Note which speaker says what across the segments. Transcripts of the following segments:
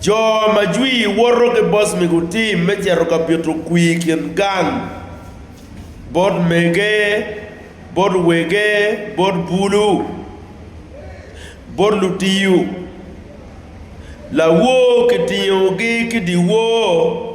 Speaker 1: Jo ma jwi woto ki bos mi gutim me cito ka pito kwi i kin gang bot mege, bot wege, bot bulu, bot lutiyo, lawor kitingogi ki dyewor.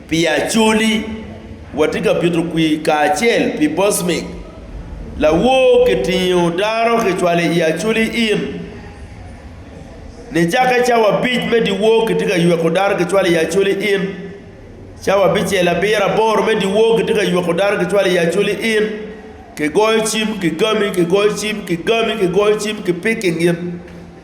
Speaker 1: Pi Acholi, watye ka pito kwir kacel pi Bosmic, lawor kitingo dano kicwalo i Acholi Inn. Nicakke cawa abic me dyewor kitye ka yweko dano kicwalo i Acholi Inn. Cawa abicel abiro aboro me dyewor kitye ka yweko dano kicwalo i Acholi Inn. Kigoyo cim kigami, kigoyo cim kigami, kigoyo cim kipiki ngin.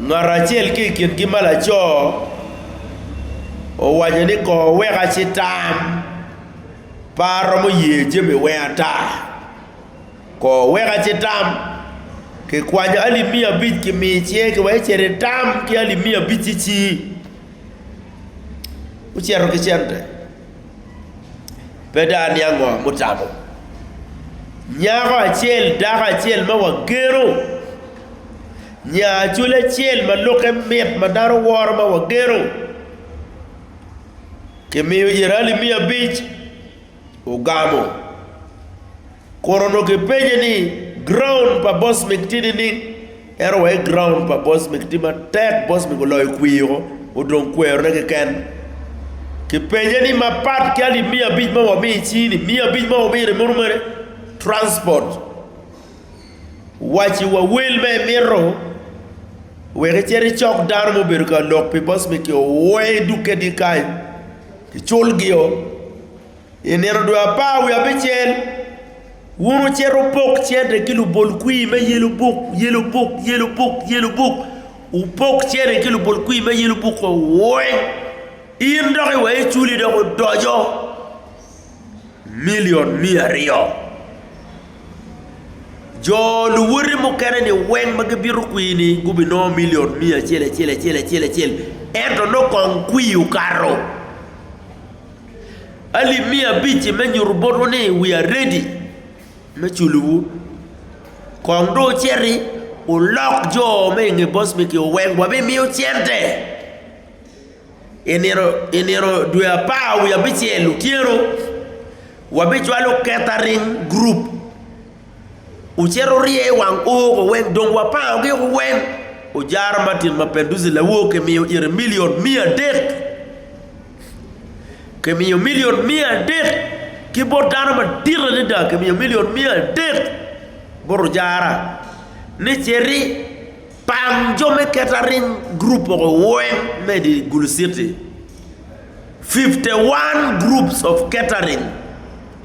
Speaker 1: Ngat acel ki i kingi ma laco owaco ni, Kor weka ci tam, pe aromo ye jami weng ata. Kor weka ci tam, kikwanyo alip miya abic kimi icinge ki wek icit itam ki alip miya abic-ci ci. Ocito ki cente. pe dano niang ngo mutamo. Nyako acel, dako acel ma wageno, nya acwali acel ma lukke mit ma dano woro ma wageno, kimiyo Irali miya abic, ogamo. Kun onongo gipenye ni, Graun pa boss migti nining? En owaci, Graun pa boss migti matek, boss mig oloyo kwio, odong kwerone keken. Kipenye ni, Mapat ki alip miya abic ma wamiyo icii-ni, miya abic ma wumire muno mere, transport, waci wa wel ma imito wek icit icok dano ma obedo ka lok pi boss mig-gi owe dukkegi kany, icul-gio. I nino dwe apar wiye abicel, wun wucito wupok cente ki lubol kwir me Yellow Book, Yellow Book, Yellow Book, Yellow Book. Wupok cente ki lubol kwir me Yellow Book weng. In dok iweko iculi dok odoco milion miya aryo. Jo luwoti mukene-ni weng ma gibito kwir-ni gubinongo milion miya acel acel acel acel acel, ento nongo kong kwir okato. alip miya abic-ci me nyuto botwu ni wiya redi me culowu. Kong dong wuciti wulok jo ma i nge boc megi wek wabimiu cente. I nino dwe apar wiye abicel otyeno wabicwalo keta ring gurup, wucit wurye i wang o woko weng dong wapango giku weng. Ojara Martin ma Pendusi lawoki miyo ite milion miya adek. Kimiyo milion miya adek ki bot dano madit adada, kimiyo milion miya adek bot ojara ni citi pang jo me kettering group mogo weng me i di Gulu citi, fifty one groups of kettering,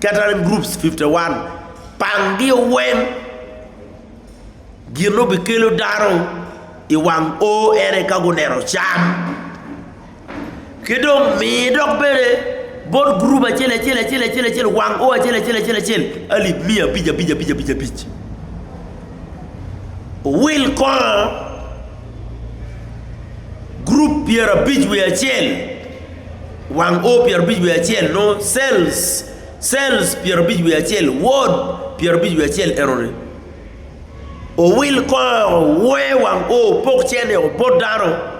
Speaker 1: kettering groups fifty one pangi weng gin ma obikelo dano i wang o ene ka guneno cam. ki dong mi dok bene bot gurup acel acel acel acel acel wang o acel acel acel acel alip miya abic abic abic abic abic owil kongo gurup pyerabic wiye acel wang o pyerabic wiye acel nongo cells cells pyerabic wiye acel wod pyerabic wiye acel enoni owil kongo owe wang o opok cene o bot dano.